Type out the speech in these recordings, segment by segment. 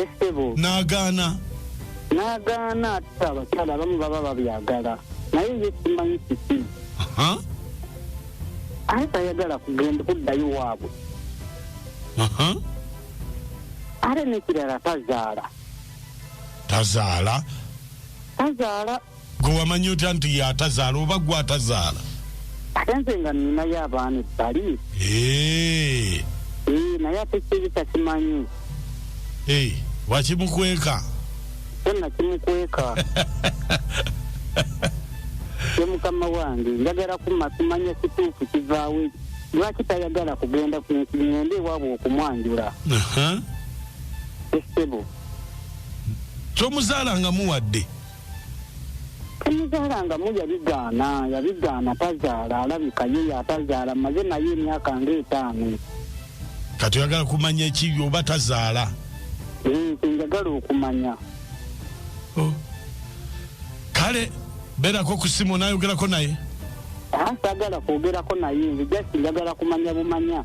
esebo n'agaana n'agaana ate abakyala abamu baba babyagala naye ye simanyi kiki Aha, aye tayagala kugenda kuddayo waabwe aha. ate nekirala tazaala tazaala tazaala gwe wamanya otya nti yatazaala oba gwe atazaala ate nze nga ninayo abaana ebbali eh. Eh, naye ate kyebisa kimanyi eh, wakimukweka kyonna kimukweka ye mukama wange njagala kuma kimanya kituufu kivaawo lwaki tayagala kugenda ngende ewaabwe okumwanjula esebo tomuzaala nga muwadde temuzaala nga mu yabigaana yabigaana tazaala alabika ye yatazaala maze naye emyaka nga etaano kati oyagala kumanya ekibi oba tazaala eh, kyenjagala okumanya oh. kale berako ku simu nayogerako naye sagala kwogerako naye nze just njagala kumanya bumanya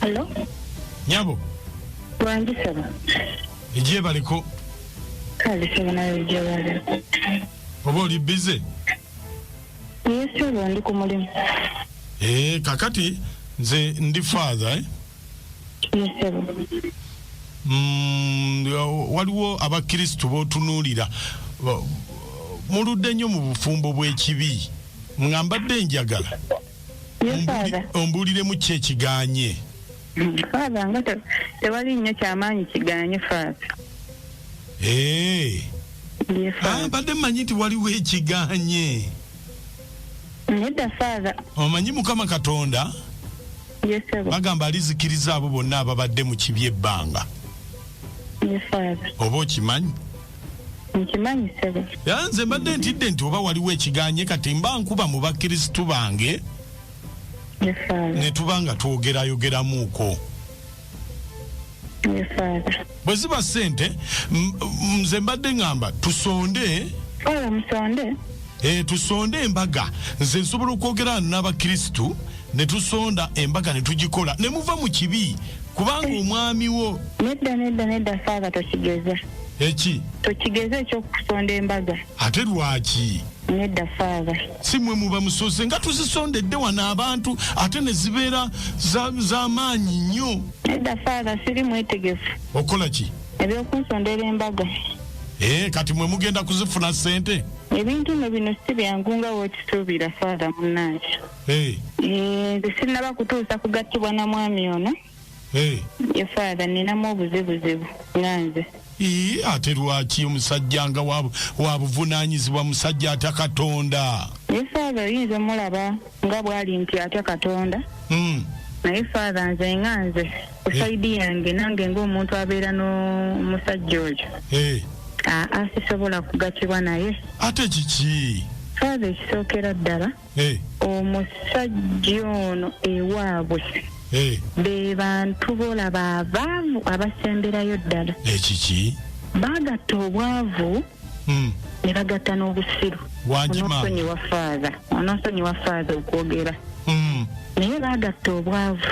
Hello? nyabo Wangi saba. egyebaliko Kale saba nawe gyewali. oba oli bize Naye saba ndi ku mulimu. Eh, kakati nze ndi father eh? Mm, waliwo abakristu botunuulira muludde nnyo mu bufumbo bw'ekibi nga mbadde enjagala ombuuliremu ki ekiganye faaza nga tewali nnyo kyamaanyi kiganye faaza eh. ah, mbadde mmanyi nti waliwo ekiganye nedda faaza omanyi mukama katonda Yes, sebo. bagamba alizikiriza abo bonna ababadde mu kibi ebbanga Yes, Father. oba okimanyi Nkimanyi, sebo. era nze mbadde ntidde nti oba waliwo ekiganye kati mba nkuba mu bakkirisitu bange Yes, Father. ne tuba nga twogerayogeramuuko bwe ziba ssente nze mbadde ŋŋamba tusonde oyo musonde eh, tusonde embaga nze nsobola okwogera n'abakirisitu ne tusonda embaga ne tugikola ne muva mu kibi kubanga eh. omwami wo nedda nedda nedda faaba tokigeza eki tokigeza ekyokusonda embaga ate lwaki nedda faaba si mwe muba musoze nga tuzisondedde wano abantu ate ne zibeera z'amaanyi nnyo nedda faala siri mwetegefu okukola ki ebyokunsondera embaga ee eh, kati mwe mugenda kuzifuna ssente ebintu no bino si byangu nga wokisuubira faala munnange eh. eh, nze sinnaba kutuusa kugattibwa na mwami ono ye father ninamu obuzibuzibu nga nze ii ate lwaki omusajja nga wabuvunanyizibwa musajja atya katonda naye father oyinza omulaba nga bwali nti atya katonda hmm. naye father nze nga nze kusaidi eh. yange nange ngaomuntu abeera n'omusajja oyo eh. aa sisobola kugatibwa naye ate kiki father ekisookera ddala eh. omusajja ono ewaabwe eh. be bantu bolaba abaavu abasemberayo ddala ekiki eh, bagatta obwavu hmm. ne bagatta n'obusiru onosonyiwa faaza onosonyiwa faaza okwogera hmm. naye bagatta obwavu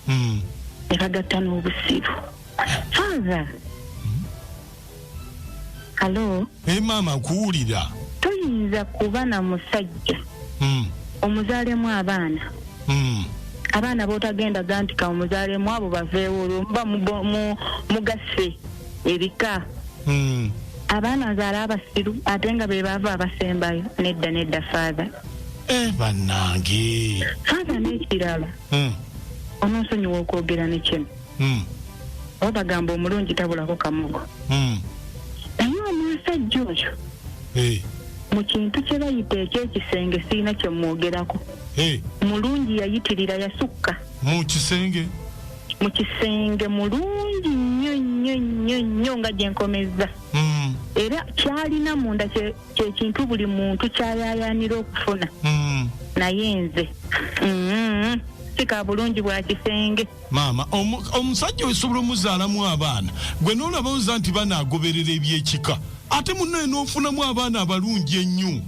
hmm. ne bagatta n'obusiru faaza halo hey, maama kuwulira toyinza kuba na musajja mm. omuzaalemu abaana mm. abaana botagenda gantika omuzaalemu abo baveewo olwo muba mugasse ebika mm. abaana nzaala abasiru ate nga be baava abasembayo nedda nedda faatha eh, bannange faatha n'ekirala mm. ononsonyiwa okwogera nekino mm. oba bagamba omulungi tabulako kamogo mm. naye omusajja oyo hey. Eh. mu kintu kye bayita ekyekisenge sirina kye mwogerako hey. Eh. mulungi yayitirira yasukka mu kisenge mu kisenge mulungi nnyo nnyo nnyo nnyo nga gye nkomezza mm. era kyalina munda kyekintu buli muntu kyayayanira okufuna mm. naye nze mm -hmm. sika bulungi bwa kisenge Maama omu- omusajja osobola omuzaalamu abaana gwe n'olaba oza nti banaagoberera eby'ekika ate munnaye n'ofunamu abaana abalungi ennyo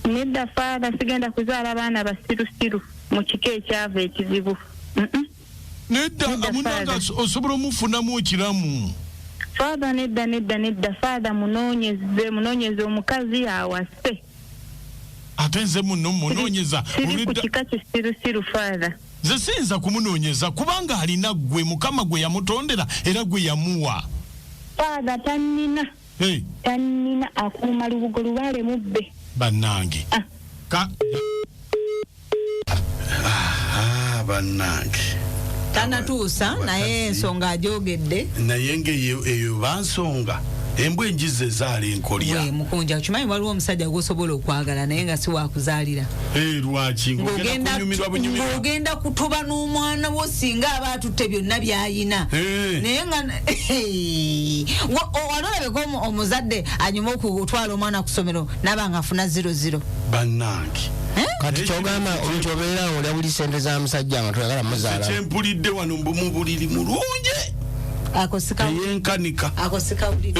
nedda faada sigenda kuzaala baana basirusiru mu kika ekyava ekizibu Mm-mm. nedda Nedda, munange Father. aso- osobola omufunamu okiramu faada nedda nedda nedda faada munoonyeze munoonyeze omukazi awase ate nze muno munoonyeza Siri- siri ku olwedda- kika kisirusiru faada Nze siyinza kumunonyeza kubanga alina gwe mukama gwe yamutondera era gwe yamuwa. Father tannina hey. tannina akuuma lubugo lubaale mubbe bannange ah. ka ah, bannange tanatuusa naye ensonga ajogedde naye ngeyo eyo bansonga embwa enjiza ezaala enkolya mukunja okimanyi waliwo omusajja gwosobola okwagala naye nga siwakuzaalira Eh, ng'ogenda kutoba n'omwana wo singa aba atutte byonna byayina eh. naye nga walolabeka omuzadde anyuma okutwala omwana ku somero naba nga afuna ziro ziro banange eh? kati kyogamba nti obeera olya buli sente za musajja nga toyagala muzaala kyempulidde wano mu buliri mulungi akosikauliyenkanika akosikauliye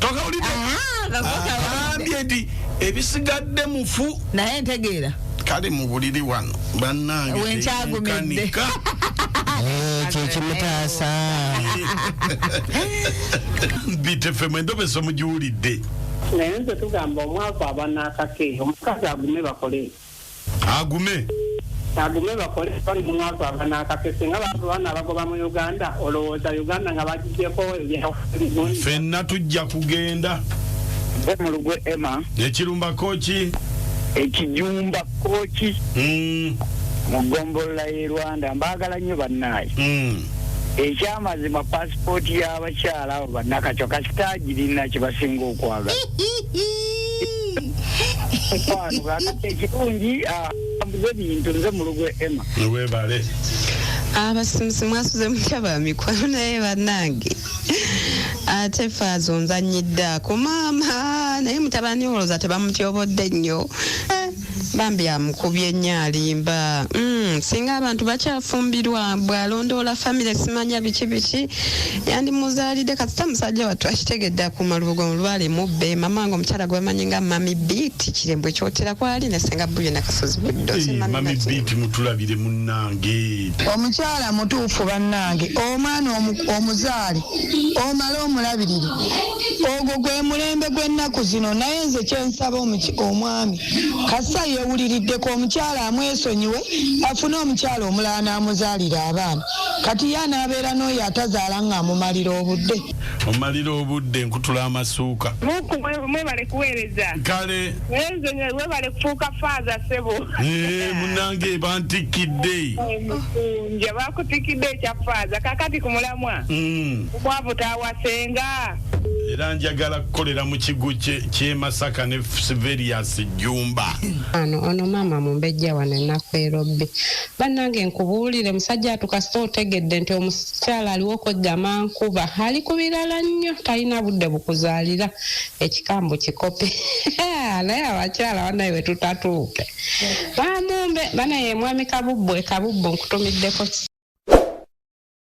tokauliye agambye nti ebisigadde mufu naye ntegeera kale mu buliri wano bannange wenkyagumidde eh, kyekimutaasa bitefe mwendobeso mugiwulidde naye nze tugamba omwavu abanaakake omukazi agume bakole agume agume bakole bali mu mwaka wa banaakake singa bantu bana abagoba mu uganda olowooza uganda nga bagijeko ebyauli fenna tujja kugenda gwe mulugwe emma ekirumba koki ekijumba koki mm. mu gombolola y'e rwanda mbaagala nnyo bannaayi mm. ekyamazima pasipooti y'abakyala abo bannakacwa kasita agirina kye basinga okwagala mukwano kakati ekirungi ah, ambuza ebintu nze mulugu ema webale abasimusi ah, mwasuze mutya ba mikwano naye banange ate ah, faaza onzanyidde ako maama naye mutabani olowooza tebamutyobodde nnyo Bambi amukubye nnyo alimba mm, singa abantu bakyafumbirwa bwalondoola famire simanya biki biki yandimuzaalidde kasita musajja wattu akitegedde akuuma lubugo mulwale mubbe mama wange omukyala gwemanyi nga mami beat kirembwe kyotera kwali ne senga buyo nakasozi buddomami eh, beat mutulabire munnange omukyala mutuufu bannange omwana omuzaale omale omulabirire ogwo gwe mulembe gw'ennaku zino naye nze kyensaba omwami kasita yeewuliriddeko omukyala amwesonyiwe afune omukyala omulala n'amuzaalira abaana kati ye anaabeera n'oyo atazaala ng'amumalira obudde mumalira obudde nkutula amasuuka mwebale kuweereza kale webale kufuuka faaza sebo eh, munange bantikkidde nja bakutikidde ekya faaza kakati ku mulamwa mm. Mwavu tawasenga. Era njagala kukolera mu kigo ky'e Masaka ne Siverius Jjumba. Ano ono maama mumbejja wano ennaku erobbi. Bannange nkubuulire musajja atu kasita otegedde nti omukyala aliwo okweggama nkuba ali ku birala nnyo talina budde bukuzaalira ekikambu kikope naye abakyala banaye we tutatuuke. Bamumbe banaye mwami kabubbu e kabubbu nkutumiddeko